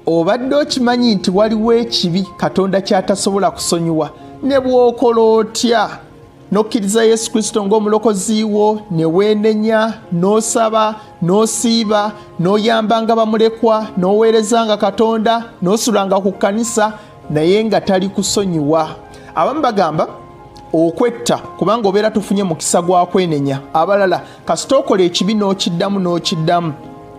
obadde okimanyi nti waliwo ekibi katonda kyatasobola kusonyiwa ne bwokola otya n'okkiriza yesu kristo ng'omulokozi wo ne weenenya n'osaba n'osiiba n'oyambanga bamulekwa n'oweerezanga katonda n'osulanga ku kkanisa naye nga tali kusonyiwa abamu bagamba okwetta kubanga obeera tufunye mukisa gwa kwenenya abalala kasita okola ekibi n'okiddamu n'okiddamu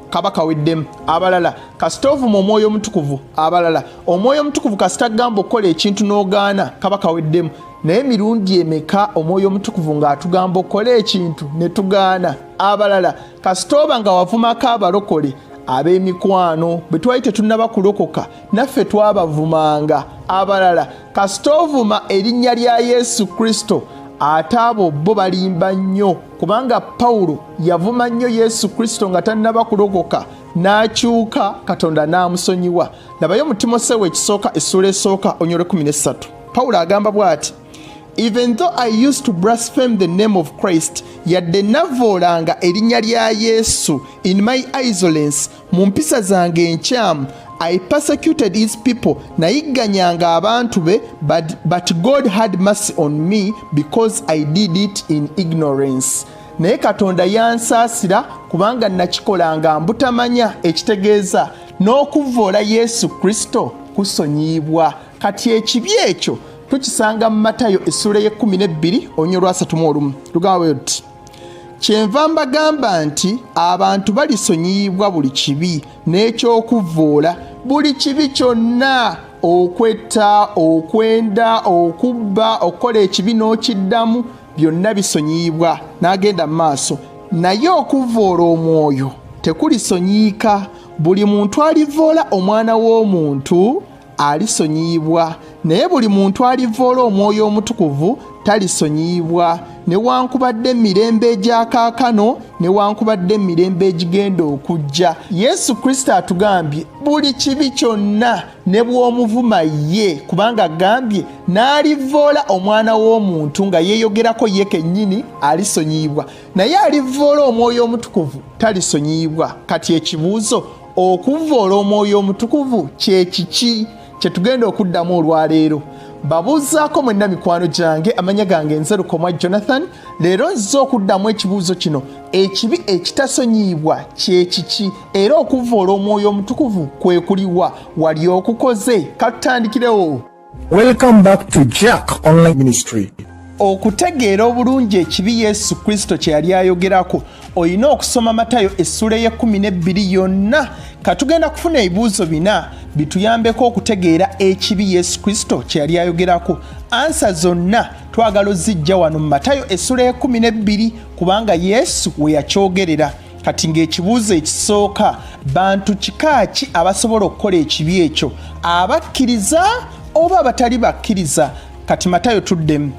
kaba kaweddemu abalala kasita ovuma omwoyo omutukuvu abalala omwoyo omutukuvu kasita gamba okukola ekintu n'ogaana kaba kaweddemu naye mirundi emeka omwoyo omutukuvu ng'atugamba okukola ekintu ne tugaana abalala kasita oba nga wavumako abalokole ab'emikwano bwe twali tetunnaba kulokoka naffe twabavumanga abalala kasita ovuma erinnya lya yesu kristo ate abo bo balimba nnyo kubanga pawulo yavuma nnyo yesu kristo nga tannaba kulokoka n'akyuka katonda n'amusonyiwa labayo mu timoseewo ekisooka essuula esooka onyole 13 pawulo agamba bw'ati even though i used to blaspheme the name of christ yadde navoolanga erinnya lya yesu in my isolence mu mpisa zange enkyamu I persecuted his people nayigganyanga abantu be but, but God had mercy on me because I did it in ignorance naye katonda yansaasira kubanga nakikolanga mbutamanya ekitegeeza n'okuvvoola yesu kristo kusonyiyibwa kati ekibi ekyo tukisanga mu matayo essula y'ekkumi n'ebbiri onyolwasatu mu olumu lugamba bwe luti kyenva mbagamba nti abantu balisonyiyibwa buli kibi n'ekyokuvvoola buli kibi kyonna okwetta okwenda okubba okukola ekibi n'okiddamu byonna bisonyiyibwa n'agenda mu maaso naye okuvvoola omwoyo tekulisonyiyika buli muntu alivvoola omwana w'omuntu alisonyiyibwa naye buli muntu alivvoola omwoyo omutukuvu talisonyiyibwa newankubadde emirembe egyakaakano newankubadde emirembe egigenda okujja yesu kristo atugambye buli kibi kyonna ne bw'omuvuma ye kubanga agambye n'alivvoola omwana w'omuntu nga yeeyogerako ye kennyini alisonyiyibwa naye alivvoola omwoyo omutukuvu talisonyiyibwa kati ekibuuzo okuvvoola omwoyo omutukuvu kye kiki kye tugenda okuddamu olwaleero babuuzaako mwenna mikwano gyange amanya gange nze lukomwa jonathan leero nzize okuddamu ekibuuzo kino ekibi ekitasonyiyibwa kye kiki era okuvvoola omwoyo omutukuvu kwe kuliwa wali okukoze katutandikirewo Welcome back to Jack Online Ministry. okutegeera obulungi ekibi yesu kristo kye yali ayogerako olina okusoma matayo essula ey'ekumi n'ebbiri yonna katugenda kufuna ebibuuzo bina bituyambeko okutegeera ekibi yesu kristo kye yali ayogerako ansa zonna twagala ozijja wano mu matayo essula y'ekumi n'ebbiri kubanga yesu we yakyogerera kati ng'ekibuuzo ekisooka bantu kika ki abasobola okukola ekibi ekyo abakkiriza oba abatali bakkiriza kati matayo tuddemu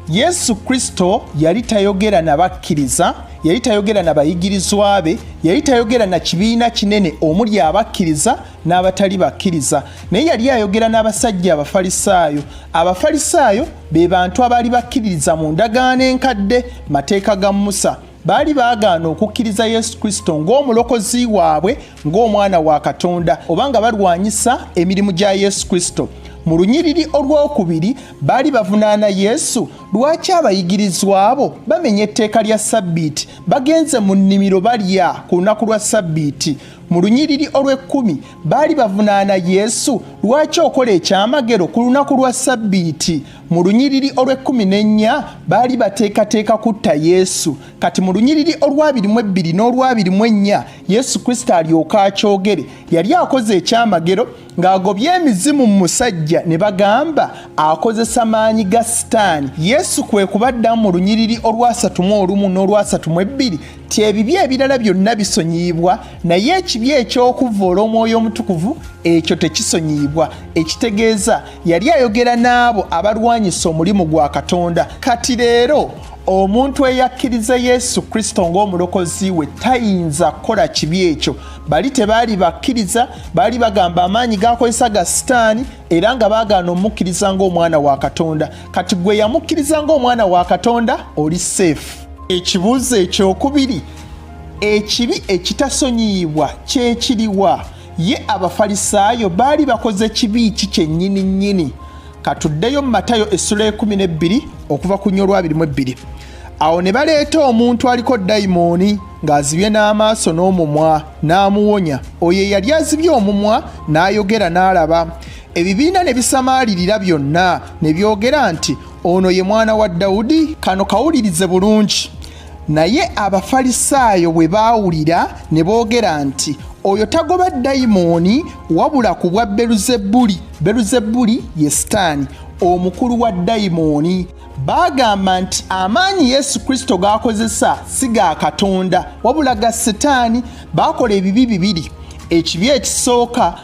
yesu kristo yali tayogera na bakkiriza yali tayogera na bayigirizwa be yali tayogera na kibiina kinene omuli abakkiriza n'abatali bakkiriza naye yali ayogera n'abasajja abafalisaayo abafalisaayo be bantu abaali bakkiririza mu ndagaano enkadde mateeka ga musa baali baagaana okukkiriza yesu kristo ng'omulokozi waabwe ng'omwana wa katonda oba nga balwanyisa emirimu gya yesu kristo mu lunyiriri olw'okubiri baali bavunaana yesu lwaki abayigirizwa abo bamenya etteeka lya sabbiiti bagenze mu nnimiro balya ku lunaku lwa sabbiiti mu lunyiriri olw'ekkumi baali bavunaana yesu lwaki okola ekyamagero ku lunaku lwa sabbiiti mu lunyiriri olw'ekkumi n'ennya baali bateekateeka kutta yesu kati mu lunyiriri olwabiri mu ebbiri n'olwabiri mu ennya yesu kristo alyoka akyogere yali akoze ekyamagero ng'agobye emizimu mu musajja ne bagamba akozesa maanyi ga sitaani yesu kwe kubaddamu mu lunyiriri olwasatu mu olumu n'olwasatu mu ebbiri ti ebibi ebirala byonna bisonyiyibwa naye ekibi eky'okuvvoola omwoyo omutukuvu ekyo tekisonyiyibwa ekitegeeza yali ayogera n'abo abalwanyisa omulimu gwa katonda kati leero omuntu eyakkiriza yesu kristo ng'omulokozi we tayinza kukola kibi ekyo bali tebaali bakkiriza baali bagamba amaanyi gakozesa ga sitaani era nga baagaana omukkiriza ng'omwana wa katonda kati gwe yamukkiriza ng'omwana wa katonda oli seefu ekibuuzo ekyokubiri ekibi ekitasonyiyibwa kyekiriwa ye abafalisaayo baali bakoze kibi ki kyennyini nnyini katuddeyo mu matayo essula ekumi n'ebbiri okuva ku nyo olwabiri mu ebbiri awo ne baleeta omuntu aliko dayimooni ng'azibye n'amaaso n'omumwa n'amuwonya oyo eyali azibye omumwa n'ayogera n'alaba ebibiina ne bisamaalirira byonna ne byogera nti ono ye mwana wa dawudi kano kawulirize bulungi naye abafalisaayo bwe baawulira ne boogera nti oyo tagoba dayimooni wabula ku bwa beruzebuli beruzebuli ye sitaani omukulu wa dayimooni baagamba nti amaanyi yesu kristo g'akozesa si ga katonda wabula ga sitaani baakola ebibi bibiri ekibi ekisooka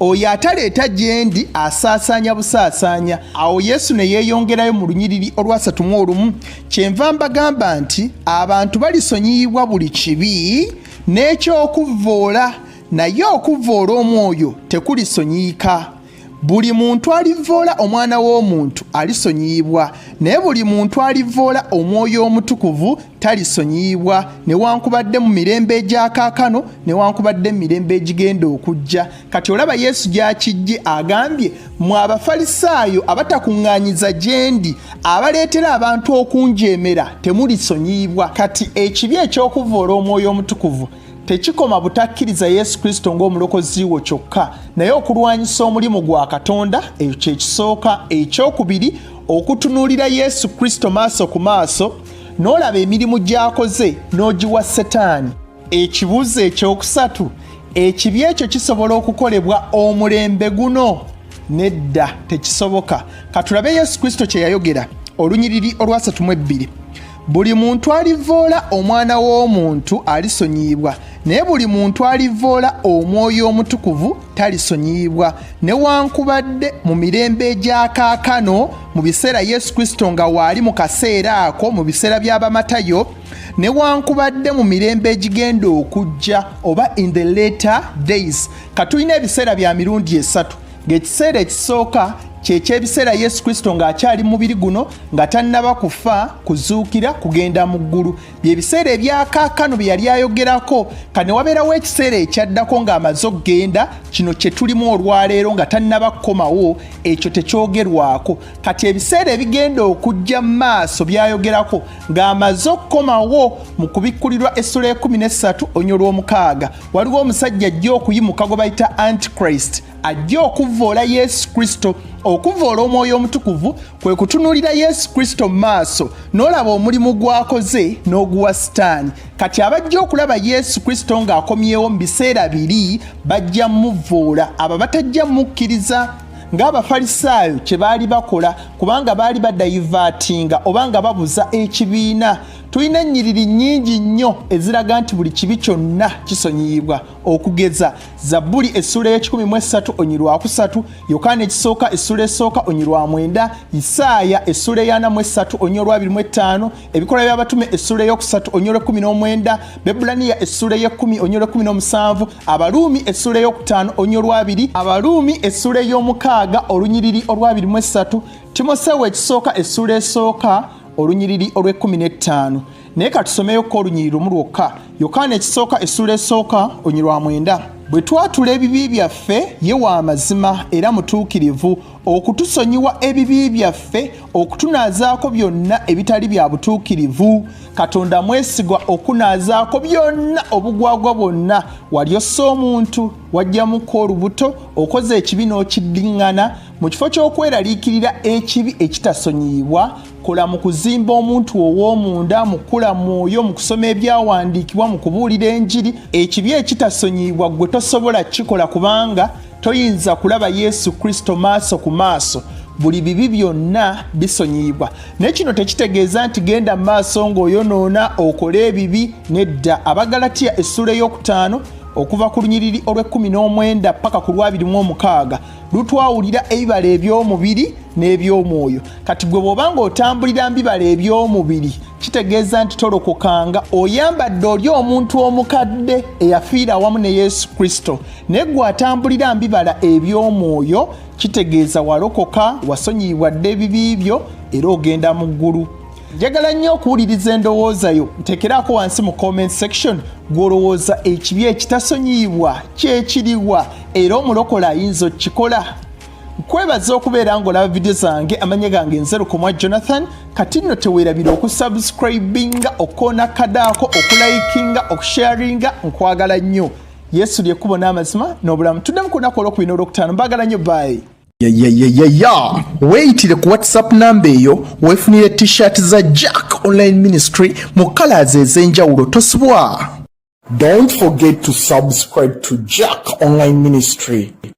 oyo ataleeta gyendi asaasaanya busaasaanya awo yesu ne yeeyongerayo mu lunyiriri olwasatu mu olumu kyenva mbagamba nti abantu balisonyiyibwa buli kibi n'ekyokuvvoola naye okuvvoola omwoyo tekulisonyiyika buli muntu alivvoola omwana w'omuntu alisonyiyibwa naye buli muntu alivvoola omwoyo omutukuvu talisonyiyibwa newankubadde mu mirembe egyakaakano newankubadde mu mirembe egigenda okujja kati olaba yesu gyakijje agambye mu abafalisaayo abatakuŋŋaanyiza gyendi abaleetera abantu okunjeemera temulisonyiyibwa kati ekibi eky'okuvvoola omwoyo omutukuvu tekikoma butakkiriza yesu kristo ng'omulokozi wo kyokka naye okulwanyisa omulimu gwa katonda ekyo kyekisooka ekyokubiri okutunuulira yesu kristo maaso ku maaso n'olaba emirimu gy'akoze n'ogiwa setaani ekibuuzo ekyokusatu ekibi ekyo kisobola okukolebwa omulembe guno nedda tekisoboka katulabe yesu kristo kye yayogera olunyiriri olwasatu mu ebbiri buli muntu alivoola omwana w'omuntu alisonyiyibwa naye buli muntu alivoola omwoyo omutukuvu talisonyiyibwa newankubadde mu mirembe egyakaakano mu biseera yesu kristo nga waali mu kaseera ako mu biseera by'abamatayo newankubadde mu mirembe egigenda okujja oba in the later days katulina ebiseera bya mirundi esatu ng'ekiseera ekisooka kyekyebiseera yesu kristo ng'akyali mubiri guno nga tannaba kufa kuzuukira kugenda mu ggulu byebiseera ebyakaakano bye yali ayogerako ka ne wabeerawo ekiseera ekyaddako ng'amaze okugenda kino kye tulimu olwaleero nga tannaba kukomawo ekyo tekyogerwako kati ebiseera ebigenda okujja mu maaso byayogerako ng'amaze okukomawo mu kubikkulirwa essula ekumi n'essatu onyo lw'omukaaga waliwo omusajja ajja okuyimuka gwe bayita antichrist ajja okuvvoola yesu kristo okuvvoola omwoyo omutukuvu kwe kutunuulira yesu kristo mu maaso n'olaba omulimu gw'akoze n'oguwa sitaani kati abajja okulaba yesu kristo ng'akomyewo mu biseera biri bajja muvvoola abo batajja mukkiriza ng'abafalisaayo kye baali bakola kubanga baali badayivaatinga oba nga babuza ekibiina tulina ennyiriri nnyingi nnyo eziraga nti buli kibi kyonna kisonyiyibwa okugeza zabbuli essula ey'ekikumi mu essatu onyi lwakusatu yokaana ekisooka essula esooka onyi lwa mwenda isaaya essula eyana mu essatu onyi olwabiri mu ettaano ebikola by'abatume essula ey'okusatu onyi olw'ekkumi n'omwenda bebulaniya essula ey'ekkumi onyi olw'ekkumi n'omusanvu abaluumi essula ey'okutaano onyi olwabiri abaluumi essula ey'omukaaga olunyiriri olwabiri mu essatu timoseewo ekisooka essula esooka olunyiriri olw'ekkumi n'ettaano naye katusomeyo ko olunyiri lumu lwokka yokaana ekisooka essuula esooka onyi lwa mwenda bwe twatula ebibi byaffe ye wa mazima era mutuukirivu okutusonyiwa ebibi byaffe okutunaazaako byonna ebitali bya butuukirivu katonda mwesigwa okunaazaako byonna obugwagwa bwonna wali ossa omuntu wajjamuko olubuto okoze ekibi n'okiddiŋŋana mu kifo ky'okweraliikirira ekibi ekitasonyiyibwa kola mu kuzimba omuntu ow'omunda mu kukula mwoyo mu kusoma ebyawandiikibwa mu kubuulira enjiri ekibi ekitasonyiyibwa gwe tosobola kukikola kubanga toyinza kulaba yesu kristo maaso ku maaso buli bibi byonna bisonyiyibwa naye kino tekitegeeza nti genda mu maaso ng'oyonoona okole ebibi nedda abagalatiya essuula ey'okutaano okuva ku lunyiriri olw'ekkumi n'omwenda paka ku lwabiri mu omukaaga lutwawulira ebibala eby'omubiri n'eby'omwoyo kati gwe bw'oba ng'otambulira mbibala eby'omubiri kitegeeza nti tolokokanga oyambadde oli omuntu omukadde eyafiira awamu ne yesu kristo naye gwe atambulira mbibala eby'omwoyo kitegeeza walokoka wasonyiyibwa dde ebibi byo era ogenda mu ggulu njagala nnyo okuwuliriza endowooza yo ntekeraako wansi mu comment section gw'olowooza ekibi ekitasonyiyibwa kyekiriwa era omulokola ayinza okukikola nkwebaza okubeera ng'olaba vidiyo zange amanya gange nzerukomwa jonathan kati nno teweerabira okusubscribinga okukoona kadaako okulayikinga okusharinga nkwagala nnyo yesu lyekkubo n'amazima n'obulamu tuddemu ku lunaku olwokubina olwokutaano mbaagala nnyo baayi yayayayaya weyitire ku whatsapp namba eyo wefunire t-shirt za jack online ministry mu colors ez'enjawulo tosubwa don't forget to subscribe to jack online ministry